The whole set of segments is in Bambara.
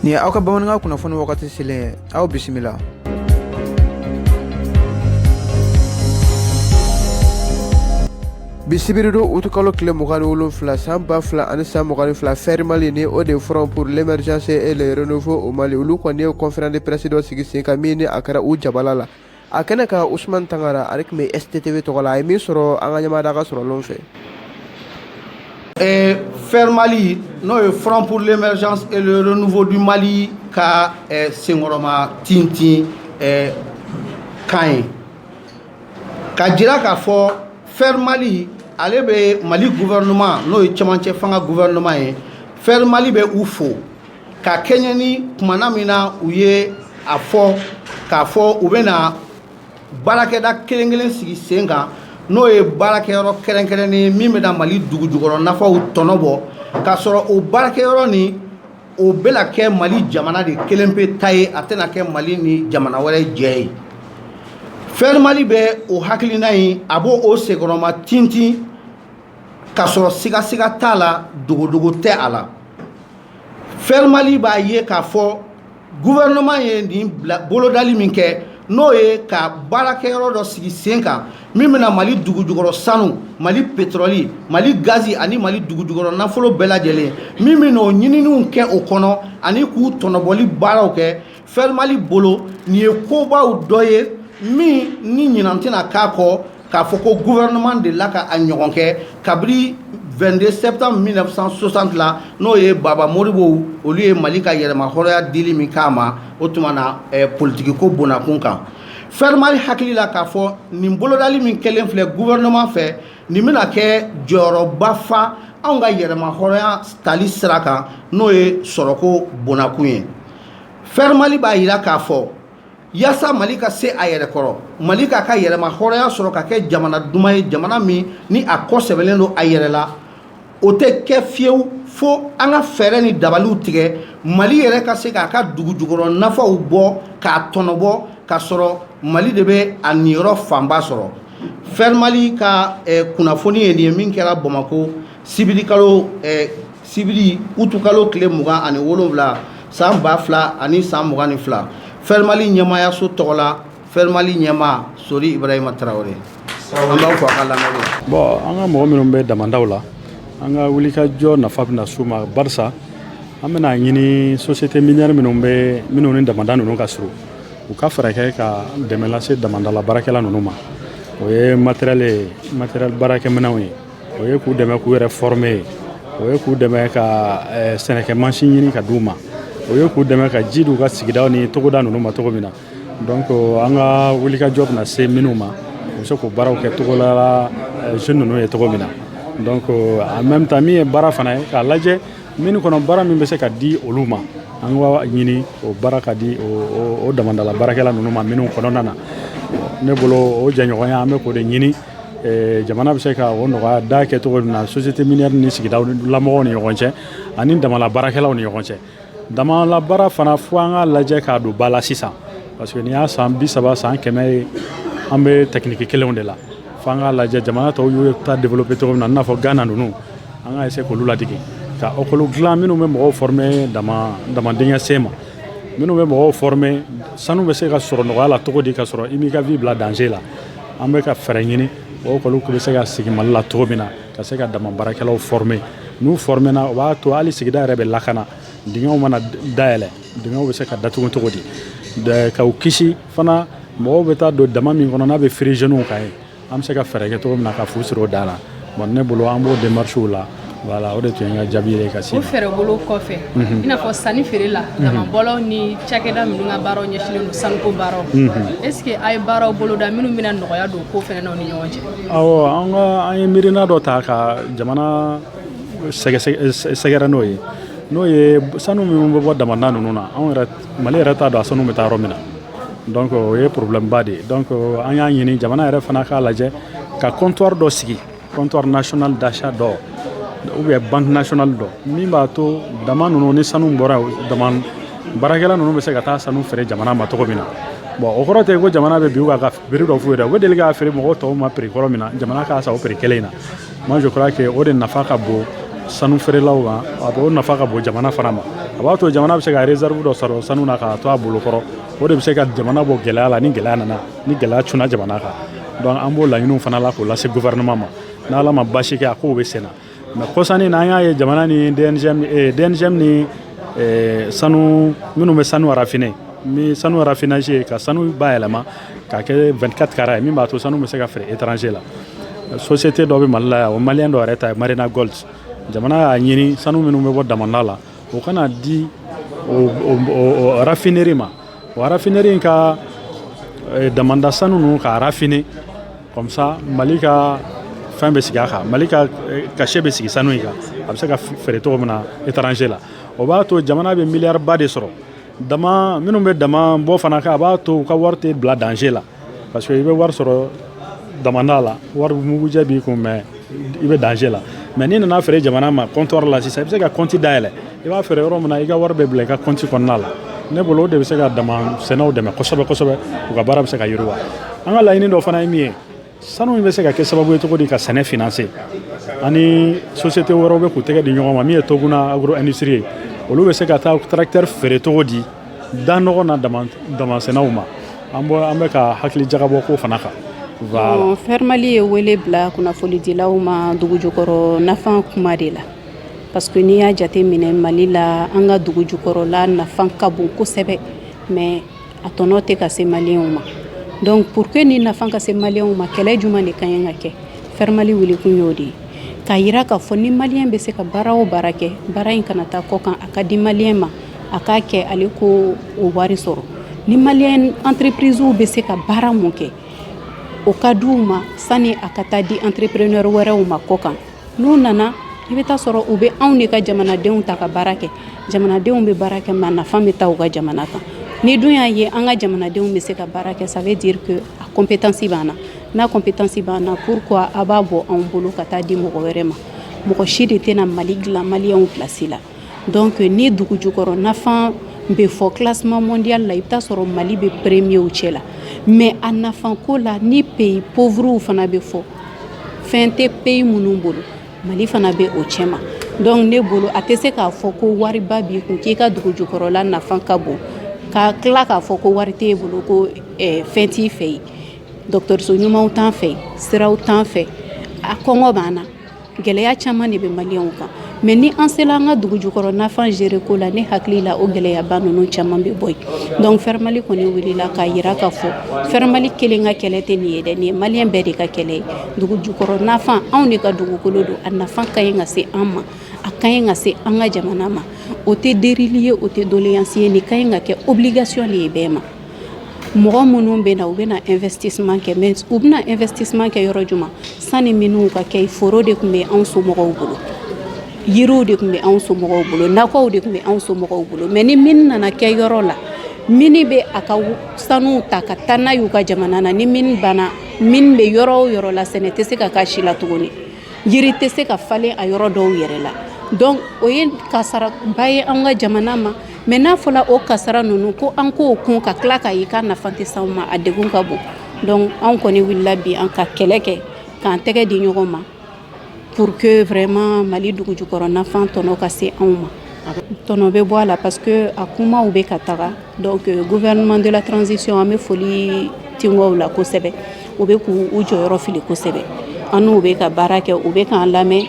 Nin ye aw ka bamanankan kunnafoni wagati selen ye aw bisimila bi sibiridon utukalo tile mugan ni wolonfila san ba fila ani san mugan ni fila fɛri mali ni o de ye front pour l'émergence et le renouveau au mali olu kɔni ye conférence de presse dɔ sigi sen kan min ni a kɛra u jabala la a kɛnɛ kan usman tangara ale tun bɛ sttv tɔgɔ la a ye min sɔrɔ an ka ɲamada ka sɔrɔlen fɛ eh, fer mali n'o ye front pour l'émergence et le renouveau du mali ka eh, senkɔrɔma tintin eh, kan ye ka jira k'a fɔ fer mali ale bɛ mali gouvernement n'o ye cɛmancɛ fanga gouvernement ye fer mali bɛ u fo ka kɛɲɛ ni kumana min na u ye a fɔ k'a fɔ u bɛna baarakɛda kelen kelen sigi sen kan n'o ye baarakɛyɔrɔ kɛrɛnkɛrɛnnen ye min bɛna mali dugujukɔrɔ nafaw tɔnɔ bɔ k'a sɔrɔ o baarakɛyɔrɔ ni o bɛna kɛ mali jamana de kelen pe ta ye a tɛna kɛ mali ni jamana wɛrɛ jɛ ye fɛri mali bɛ o hakilina ye a b'o senkɔrɔma tintin k'a sɔrɔ sigasiga t'a la dogodogo tɛ a la fɛrɛmali b'a ye k'a fɔ gouvernement ye nin bila bolodali min kɛ n'o ye ka baarakɛyɔrɔ dɔ sigi sen kan min bɛna mali dugujukɔrɔ sanu mali pétrole mali gazi ani mali dugujukɔrɔ nafolo bɛɛ lajɛlen min bɛna o ɲininiw kɛ o kɔnɔ ani k'u tɔnɔbɔli baaraw kɛ fɛrimali bolo nin ye kobaw dɔ ye min ni ɲinan tɛna k'a kɔ k'a fɔ ko gouvernement dela ka a ɲɔgɔn kɛ kabiri 22 septembre 1960 la n'o ye baba modibow olu ye mali ka yɛrɛmahɔrɔnya dili min k'a ma o tuma na eh, politikiko bonakun kan fɛrimali hakili la k'a fɔ nin bolodali min kɛlen filɛ gouvernement fɛ nin bɛna kɛ jɔyɔrɔba fa anw ka yɛrɛmahɔrɔnya tali sira kan n'o ye sɔrɔko bonakun ye fɛrɛ mali b'a jira k'a fɔ yaasa mali ka se a yɛrɛ kɔrɔ mali k'a ka yɛrɛmahɔrɔnya sɔrɔ ka kɛ jamana duman ye jamana min ni a kɔ sɛmɛnen don a yɛrɛ la o tɛ kɛ fiyewu fo an ka fɛɛrɛ ni dabaliw tigɛ mali yɛrɛ ka se k'a ka dugujukɔrɔ nafaw bɔ k'a tɔnɔbɔ k'a sɔrɔ mali de bɛ a niyɔrɔ fanba sɔrɔ fɛrɛ mali ka eh, kunnafoni ye nin ye min kɛra bamako sibirikalo eh, sibiri utukalo tile mugan ani wolonwula san ba fila ani san mugan ni fila fɛrimali ɲɛmaayaso tɔgɔ la fɛrimali ɲɛmaa sori ibrahima tarawele an b'aw fo a ka lamɛnni la. bɔn an ka mɔgɔ minnu bɛ damandaw la an ka wulikajɔ nafa bɛna s'u ma barisa an bɛna a ɲini société minière minnu bɛ minnu ni damanda ninnu ka surun u ka fɛɛrɛ kɛ ka dɛmɛ lase damandala baarakɛla ninnu ma o ye matériel ye matériel baarakɛminɛnw ye o ye k'u dɛmɛ k'u yɛrɛ former ye o ye k'u dɛmɛ ka eh, sɛnɛkɛ mansin ɲini ka di u ma o ye k'u dɛmɛ ka ji di u ka sigida ni togoda ninnu ma cogo min na donc an ka wulikajɔ bɛna se minnu ma u bɛ se k'o baaraw kɛ togodala eh, jeune ninnu ye cogo min na donc en même temps min ye baara fana ye k'a lajɛ mine kɔnɔ baara min bɛ se ka di olu ma an k'a ɲini o baara ka di o damandala baarakɛla ninnu ma mine kɔnɔna na ne bolo o jɛɲɔgɔnya an bɛ k'o de ɲini jamana bɛ se ka o nɔgɔya da kɛ cogo min na société mine ni sigidalamɔgɔ ni ɲɔgɔn cɛ ani damala baarakɛlaw ni ɲɔgɔn cɛ dama baara fana fo an ka lajɛ k'a don ba la sisan parce que nin y'a san bi saba san kɛmɛ ye an bɛ tɛkiniki kelenw de la fo an ka lajɛ jamana tɔw y'o ta de bɛ cogo min na n'a fɔ gana ninnu an ka se k'olu ladege ka école dilan minnu bɛ mɔgɔw former dama dingɛ sen ma minnu bɛ mɔgɔw former sanu bɛ se ka sɔrɔ nɔgɔya la cogo di ka sɔrɔ i m'i ka vie bila danger la An bɛ ka fɛɛrɛ ɲini école tun bɛ se ka sigi Mali la cogo min na ka se ka dama baarakɛlaw former n'u former na o b'a to hali sigida yɛrɛ bɛ lakana dingɛw mana dayɛlɛ dingɛw bɛ se ka datugu cogo di ka u kisi fana mɔgɔw bɛ taa don dama min kɔnɔ n'a bɛ firi jeunes kan yen an bɛ se ka fɛɛrɛ kɛ cogo min na ka fu siri o dan na. Bon ne bolo an b'o démarches la voilà o de tun ye n ka jaabi ye ka se o fɛɛrɛ bolo kɔfɛ i n'a fɔ sanni feere la damabɔlaw ni cakɛda minnu ka baaraw ɲɛsinnen don sanuko baaraw est ce que a ye baaraw boloda minnu bɛna nɔgɔya don ko fɛnɛ na u ni ɲɔgɔn cɛ awɔ an ka an ye miirina dɔ ta ka jamana sɛgɛrɛ n'o ye n'o ye sanu minnu bɛ bɔ damanda ninnu na anw yɛrɛ mali yɛrɛ t'a dɔn a sanu bɛ taa yɔrɔ min na donc o ye problème ba de ye donc an y'a ɲini jamana yɛrɛ fana k'a lajɛ ka comptoir dɔ sigi comptoir national d'achat dɔ ou bien banque nationale dɔ min b'a to dama ninnu ni sanu bɔra dama baarakɛla ninnu bɛ se ka taa sanu feere jamana ma cogo min na bon o kɔrɔ tɛ ko jamana bɛ bin u kan prix dɔ f'u ye u bɛ deli k'a feere mɔgɔw tɔw ma prix kɔrɔ min na jamana k'a san o prix kelen in na Moi je crois que o de nafa ka bon sanu feerelaw ma a b'o nafa ka bon jamana fana ma a b'a to jamana bɛ se ka réserve dɔ sɔrɔ sanu na k'a to a bolo kɔrɔ o de bɛ se ka jamana bɔ gɛlɛya la ni gɛlɛya nana ni gɛlɛya cunna jamana kan donc an b'o laɲiniw fana la k'o lase gouvernement ma n'ala ma baasi kɛ a kow bɛ senna mais kɔsa in na an y'a ye jamana ni DNGM eh, DNGM ni eh, sanu minnu bɛ sanu raffiner ni sanu raffinage ye ka sanu bayɛlɛma k'a kɛ 24 kara ye min b'a to sanu bɛ se ka feere étranger la société dɔ bɛ mali la yan o malien dɔ yɛrɛ ta Marena Gold jamana y'a ɲini sanu minnu bɛ bɔ damanda la o ka na di raffinerie ma o raffinerie in ka eh, damanda sanu ninnu k'a raffiner comme ça mali ka fɛn bɛ sigi a kan mali ka eh, cachet bɛ sigi sanu in kan a bɛ se ka feere cogo min na étranger la o b'a to jamana bɛ milliard ba de sɔrɔ dama minnu bɛ dama bɔ fana kan a b'a to u ka wari tɛ bila danger la Parce que i bɛ wari sɔrɔ damanda la wari mugujɛ b'i kun mais i bɛ danger la mais n'i nana fɛ jamana ma comptoir la sisan i bɛ se ka kɔnti dayɛlɛ i b'a fɛ yɔrɔ min na i ka wari bɛ bila i ka kɔnti kɔnɔna la ne bolo o de bɛ se ka sennaw dɛmɛ kosɛbɛ kosɛbɛ u ka baara bɛ se ka yiriwa an ka laɲini dɔ fana ye min ye sanu in bɛ se ka kɛ sababu ye cogo di ka sɛnɛ fse ani société wɛrɛ bɛ k'u tɛgɛ di ɲɔgɔn ma min ye to kunna a nisirire ye olu bɛ se ka taa u taara feere cogo di Da nɔgɔn na damansennaw ma an an bɛ ka hakilijagabɔ k'o fana kan fɛrɛmali ye wele bila kunnafonidilaw ma dugujukɔrɔ nafa kuma de la parce que n'i y'a jate minɛ mali la an ka dugujukɔrɔla nafa ka bon kosɛbɛ mais a tɔnɔ tɛ ka se maliyɛnw ma donc pour que nin nafa ka se maliyɛnw ma kɛlɛ jumɛn de ka ɲi ka kɛ fɛrɛmali wele tun y'o de ye k'a jira k'a fɔ ni maliyɛn bɛ se ka baara o baara kɛ baara in kana taa kɔ kan a ka di maliyɛn ma a k'a kɛ ale ko o wari sɔrɔ ni mali entreprisew bɛ se ka baara min kɛ o ka di u ma sani a ka taa di entrepreneur wɛrɛw ma kɔ kan n'u nana i bɛ taa sɔrɔ u bɛ anw de ka jamanadenw ta ka baara kɛ jamanadenw bɛ baara kɛ mais nafa bɛ taa u ka jamana kan n'i dun y'a ye an ka jamanadenw bɛ se ka baara kɛ ça veut dire a compétence b'an na n'a compétence b'an na p a b'a bɔ anw bolo ka taa di mɔgɔ wɛrɛ ma mɔgɔ si de tɛna mali dilan maliyɛn place la Donc ni dugu jukɔrɔ nafan bɛ fɔ classement mondial la i bɛ taa sɔrɔ Mali bɛ premierw cɛ la mais a nafan ko la ni pays pauvres fana bɛ fɔ fɛn tɛ pays minnu bolo Mali fana bɛ o cɛma donc ne bolo a tɛ se k'a fɔ ko wariba b'i kun k'i ka dugu jukɔrɔla nafan ka bon ka tila k'a fɔ ko wari t'e bolo ko eh, fɛn t'i fɛ yen dɔgɔtɔrɔso ɲumanw t'an fɛ siraw t'an fɛ a kɔngɔ b'an na gɛlɛya caman de bɛ maliyɛnw kan mais ni an sela an ka dugu jukɔrɔ nafan gérer ko la ne hakili la o gɛlɛyaba ninnu caman bɛ bɔ yen donc fɛrɛmali kɔni wulila k'a yira k'a fɔ fɛrɛmali kelen ka kɛlɛ tɛ nin ye dɛ nin ye maliyɛn bɛɛ de ka kɛlɛ ye dugu jukɔrɔ nafan anw de ka dugukolo don a nafan ka ɲi ka se an ma a ka ɲi ka se an ka jamana ma o tɛ delili ye o tɛ doleyansi ye nin ka ɲi ka kɛ obligation de ye bɛɛ ma mɔgɔ minnu bɛ na u bɛna investissement kɛ mais u bɛna investissement kɛ yɔrɔ jumɛn sani mini ka kɛ foro de tun bɛ anw somɔgɔw bolo yiriw de tun bɛ anw somɔgɔw bolo nakɔw de tun bɛ anw somɔgɔw bolo mais ni mini nana kɛ yɔrɔ la mini bɛ a ka sanuw ta ka taa n'a y'u ka jamana na ni mini banna mini bɛ yɔrɔ o yɔrɔ la sɛnɛ tɛ se ka k'a si la tuguni yiri tɛ se ka falen a yɔrɔ dɔw yɛrɛ la donc o ye kasaraba ye an ka jamana ma Mais n'a fɔra o kasara ninnu ko an k'o kun ka tila ka i ka nafa tɛ se a ma a de ka bon donc anw kɔni wulila bi an ka kɛlɛ kɛ k'an tɛgɛ di ɲɔgɔn ma pour que vraiment Mali dugujukɔrɔ nafa in tɔnɔ ka se anw ma tɔnɔ bɛ bɔ a la parce que a kumaw bɛ ka taga donc gouvernement de la transition an bɛ foli tebaww la kosɛbɛ u bɛ k'u jɔyɔrɔ fili kosɛbɛ an n'u bɛ ka baara kɛ u bɛ k'an lamɛn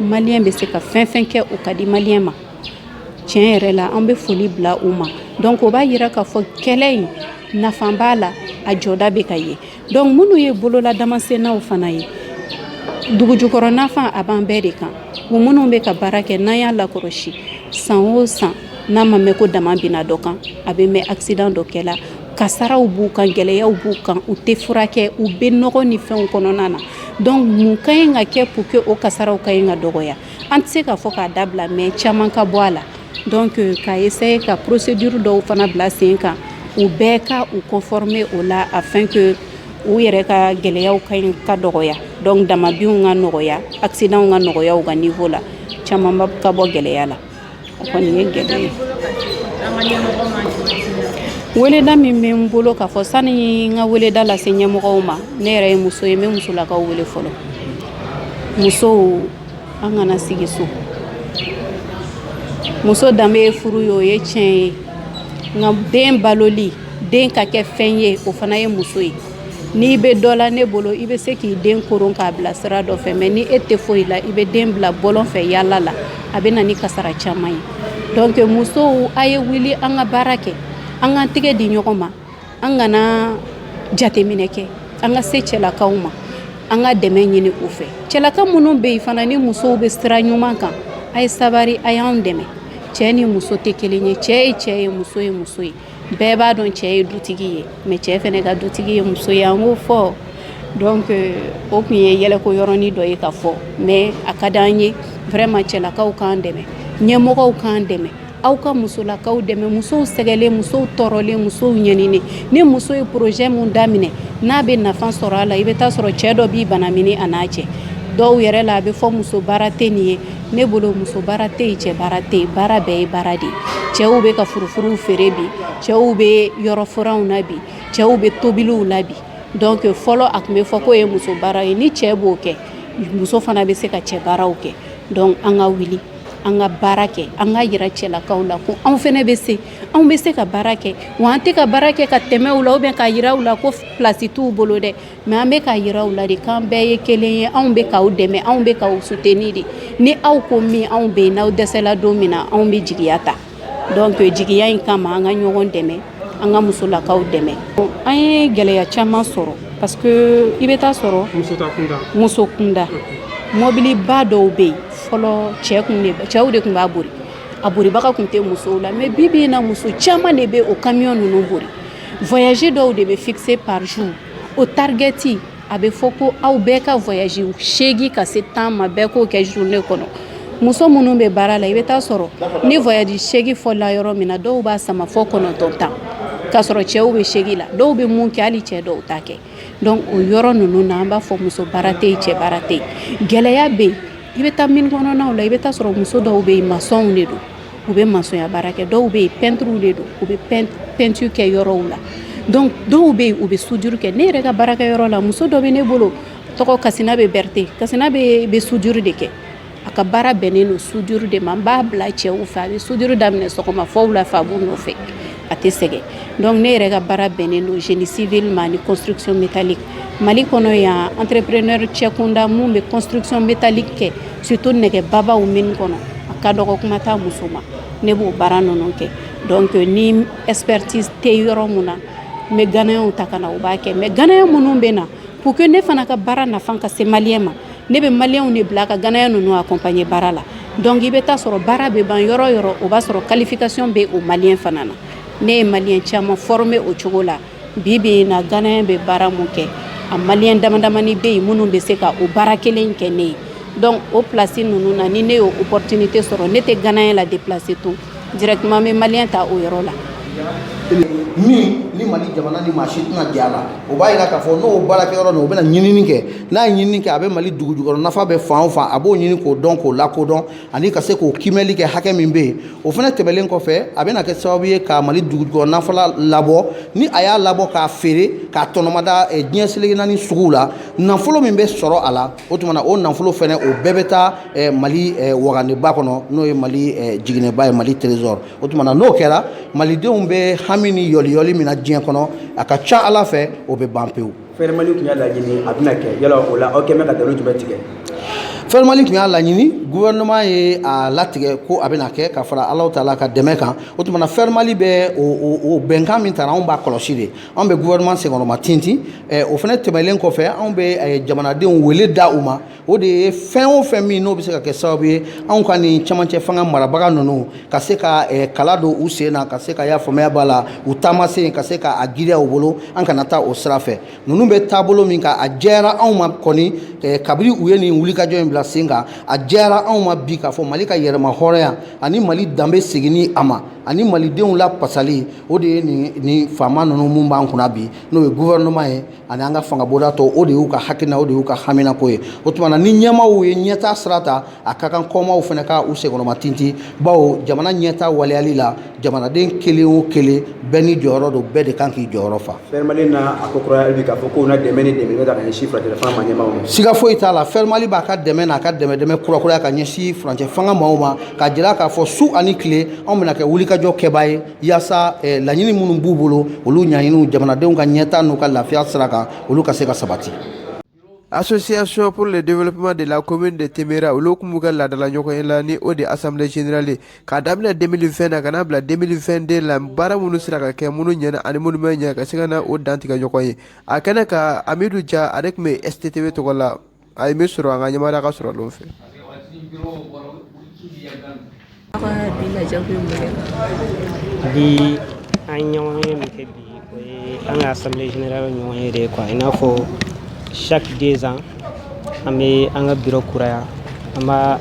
Malien bɛ se ka fɛn o fɛn kɛ u k'a di Malien ma tiɲɛ yɛrɛ la an bɛ foli bila u ma donc o b'a jira k'a fɔ kɛlɛ in nafa b'a la a jɔda bɛ ka ye donc minnu ye bololadamansennaw fana ye dugujukɔrɔ nafa a b'an bɛɛ de kan u minnu bɛ ka baara kɛ n'an y'a lakɔlɔsi san o san n'a ma mɛn ko daman binna dɔ kan a bɛ mɛn accident dɔ kɛla kasaraw b'u kan gɛlɛyaw b'u kan u tɛ furakɛ u bɛ nɔgɔ ni fɛnw kɔnɔna na donc mun ka ɲi ka kɛ pour que o kasaraw ka ɲi ka dɔgɔya an tɛ se k'a fɔ k'a dabila mais caman ka bɔ a la donc ka essayer ka procédure dɔw fana bila sen kan u bɛɛ ka u conformer o la afin que u yɛrɛ ka gɛlɛyaw ka dɔgɔya donc damanbinw ka nɔgɔya accidents ka nɔgɔya u ka niveau la camanba ka bɔ gɛlɛya la O kɔni ye gɛlɛya ye. Weleda min bɛ n bolo ka fɔ sani n ka weleda lase ɲɛmɔgɔw ma ne yɛrɛ ye muso ye n bɛ musolakaw wele fɔlɔ musow an kana sigi so muso danbe ye furu ye o ye tiɲɛ ye nka den baloli den ka kɛ fɛn ye o fana ye muso ye N'i bɛ dɔ la ne bolo i bɛ se k'i den koron k'a bila sira dɔ fɛ mais ni e tɛ foyi la i bɛ den bila bɔlɔn fɛ yaala la a bɛ na ni kasara caman ye donc musow a ye wuli an ka baara kɛ an k'an tɛgɛ di ɲɔgɔn ma an kana jateminɛ kɛ an ka se cɛlakaw ma an ka dɛmɛ ɲini u fɛ cɛlaka minnu bɛ yen fana ni musow bɛ sira ɲuman kan a ye sabari a y'an dɛmɛ cɛ ni muso tɛ kelen ye cɛ ye cɛ ye muso ye muso ye bɛɛ b'a dɔn cɛ ye dutigi ye mais cɛ fana ka dutigi ye muso ye an k'o fɔ donc o tun ye yɛlɛko yɔrɔnin dɔ ye ka fɔ mais a ka di an ye vraiment cɛlakaw k'an dɛmɛ ɲɛmɔgɔw k'an dɛmɛ aw ka musolakaw dɛmɛ musow sɛgɛnnen musow tɔɔrɔlen musow ɲɛninen ni muso ye projet min daminɛ n'a bɛ nafa sɔrɔ a la i bɛ t'a sɔrɔ cɛ dɔ b'i banamini a na cɛ dɔw yɛrɛ la a bɛ fɔ muso baara tɛ nin ye Ne bolo muso baara tɛ yen cɛ baara tɛ yen baara bɛɛ ye baara de ye cɛw bɛ ka furufuruw feere bi cɛw bɛ yɔrɔfuranw na bi cɛw bɛ tobiliw la bi donc fɔlɔ a tun bɛ fɔ k'o ye muso baara ye ni cɛ b'o kɛ muso fana bɛ se ka cɛ baaraw kɛ donc an ka wuli an ka baara kɛ an ka yira cɛlakaw la ko anw fana bɛ se anw bɛ se ka baara kɛ wa an tɛ ka baara kɛ ka tɛmɛ u la ou bien ka yira u la ko place t'u bolo dɛ Mɛ an bɛ k'a yira aw la de k'an bɛɛ ye kelen ye anw bɛ k'aw dɛmɛ anw bɛ k'aw suteni de ni aw ko min anw bɛ n'aw dɛsɛla don min na anw bɛ jigiya ta donc o jigiya in kama an ka ɲɔgɔn dɛmɛ an ka musolakaw dɛmɛ an ye gɛlɛya caman sɔrɔ parce que i bɛ taa sɔrɔ muso kunda mɔbiliba dɔw bɛ yen fɔlɔ cɛ cɛw de tun b'a boli a bolibaga tun tɛ musow la mɛ bi bi in na muso caman de bɛ o kamiyɔn ninnu boli voyage dɔw de bɛ fikise par jour o tarigɛti a bɛ fɔ ko aw bɛɛ ka voyage seegin ka se tan ma bɛɛ k'o kɛ journée kɔnɔ muso minnu bɛ baara la i bɛ taa sɔrɔ ni voyage seegin fɔla yɔrɔ min na dɔw b'a sama fo kɔnɔntɔn tan ka sɔrɔ cɛw bɛ seegin la dɔw bɛ min kɛ hali cɛ dɔw t'a kɛ donc o yɔrɔ ninnu na an b'a fɔ muso baara tɛ cɛ baara tɛ gɛlɛya bɛ yen i bɛ taa mine kɔnɔnaw la i bɛ taa sɔrɔ muso dɔw bɛ yen masɔnw de don u bɛ masɔnya baara kɛ dɔw bɛ yen pɛntiriw de don u bɛ pɛntiri kɛ yɔrɔw la donc dɔw bɛ yen u bɛ sudiri kɛ ne yɛrɛ ka baarakɛ yɔrɔ la muso dɔ bɛ ne bolo tɔgɔ kasinabɛ bɛrite kasinabɛ bɛ sudiri de kɛ a ka baara bɛnnen don sudiri de ma n b'a bila cɛw fɛ a bɛ sudiri daminɛ sɔgɔma fo wula fɛ a b'u nɔfɛ a tɛ sɛgɛn dɔnku ne yɛrɛ ka baara bɛnnen don génie civil ma ni construction métallique mali kɔnɔ yan entrepreneur cɛ kunda minnu bɛ construction métallique kɛ surtout nɛgɛ babaw mine kɔnɔ a ka dɔgɔ kuma tɛ muso ma ne b'o baara ninnu kɛ dɔnku ni expertise tɛ yɔrɔ min na n bɛ ganeyɛnw ta ka na u b'a kɛ mɛ ganeyɛn minnu bɛ na pour que ne fana ka baara nafa ka se maliyɛn ma ne bɛ maliyɛnw de bila ka ganeyɛn ninnu akɔnpaɲe baara la dɔnku i bɛ taa sɔrɔ baara bɛ ban yɔrɔ yɔrɔ o b'a sɔrɔ qualification bɛ o maliyɛn fana na ne ye maliyɛn caman fɔrime o cogo la bi bi in na ganeyɛn bɛ baara min kɛ a maliyɛn damadamani bɛ yen minnu bɛ se ka o baara kelen kɛ ne ye dɔnku o plasi ninnu na ni ne ye opportunité sɔrɔ ne tɛ ganeyɛn ladeplase tun Directement n bɛ maliyɛn ta o yɔrɔ la min ni mali jamana ni maa si tɛna jɛ a la o b'a jira k'a fɔ n'o baarakɛ yɔrɔ nin o bɛna ɲinini kɛ n'a ye ɲinini kɛ a bɛ mali dugujukɔrɔ nafa bɛ fan o fan a b'o ɲini k'o dɔn k'o lakodɔn ani ka se k'o kiimɛli kɛ hakɛ min bɛ yen o fana tɛmɛnlen kɔfɛ a bɛna kɛ sababu ye ka mali dugujukɔrɔ nafolo labɔ ni a y'a labɔ k'a feere k'a tɔnɔmada diɲɛ seleke naani suguw la nafolo min bɛ sɔrɔ a la o tuma na o nafolo fana o bɛɛ bɛ taa mali wagandeba kɔnɔ n'o ye mali jiginɛba ye mali trésor o tuma na n'o kɛra malidenw bɛ hami ni yɔliyɔli min na diɲɛ kɔnɔ a ka ca ala fɛ o bɛ ban pewu FER mali tun y'a laɲini a bɛna kɛ yala o la aw kɛlen bɛ ka jumɛn tigɛ FER mali tun y'a laɲini gouvernement ye a latigɛ ko a bɛna kɛ ka fara ala taala ka dɛmɛ kan o tuma na FER mali bɛ o bɛnkan min tara anw b'a kɔlɔsi de anw bɛ gouvernement senkɔrɔma tintin o fana tɛmɛlen kɔfɛ anw bɛ jamanadenw wele da u ma o de ye fɛn o fɛn min n'o bɛ se ka kɛ sababu ye anw ka nin camancɛ fanga marabaga ninnu ka se ka eh, kala don u sen na ka se ka y'a faamaya b'a la u taamasen ka se k'a giriya u bolo an kana taa o sira fɛ ninnu bɛ taabolo min kan a jɛyara anw ma kɔni eh, kabini u ye nin wulikajɔ in bila sen kan a jɛyara anw ma bi k'a fɔ mali ka yɛrɛmahɔrɔnya ani mali danbe seginni a ma ani malidenw lapasali o de ye nin nin faama ninnu min b'an kunna bi n'o ye gouvernement ye ani an ka fangabonda tɔ o de y'u ka hakilina o de y'u ka haminako ye o tuma na ni ɲɛmaaw ye ɲɛtaa sira ta a ka kan kɔmaw fana ka u senkɔrɔma tinti bawo jamana ɲɛtaa waleyali la jamanaden kelen o kelen bɛɛ n'i jɔyɔrɔ don bɛɛ de kan k'i jɔyɔrɔ fa FER Mali na a ko kuraya bi k'a fɔ k'o na dɛmɛ ni dɛmɛ bɛ ka ɲɛsin furancɛ fanga ma ɲɛmaaw ma siga foyi t'a la FER Mali b'a ka dɛmɛ n'a ka dɛmɛdɛmɛ kurakuraya ka ɲɛsin furancɛ fanga maaw ma k'a jira k'a fɔ su ani tile anw bɛna kɛ wulikajɔ kɛbaa ye yaasa laɲini minnu b'u bolo olu ɲɛɲiniw jamanadenw ka ɲɛtaa n'u ka lafiya sira kan olu ka se ka sabati association pour le développement de la commune de temera olu tun b'u ka laadala ɲɔgɔnye la ni o de assemblée générale ye ka daminɛ deux mille vingt na ka na bila deux mille vingt deux la baara minnu sera ka kɛ minnu ɲɛna ani minnu ma ɲɛ ka se ka na o dantigɛ ɲɔgɔn ye a kɛnɛ kan amidu ja ale tun bɛ STTV tɔgɔ la A bɛ sɔrɔ an ka ɲamaruya ka sɔrɔ don fɛ bi an ɲɔgɔnye min kɛ bi o ye an ka assemblée générale ɲɔgɔnye de quoi i n'a fɔ chaque deux ans an bɛ an ka biro kuraya an b'a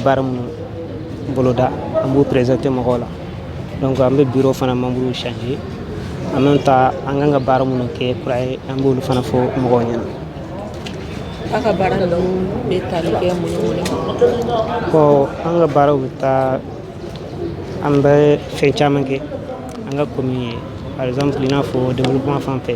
baara minnu boloda an b'u présenter mɔgɔw la donc an bɛ biro fana manburu changer an bɛ taa an kan ka baara minnu kɛ kura ye an b'olu fana fɔ mɔgɔw ɲɛna aw ka baara ninnu bɛ tali kɛ mun ni mun de kan ɔ an ka baaraw bɛ taa an bɛ fɛn caman kɛ an ka commune ye par exemple i n'a fɔ développement fan fɛ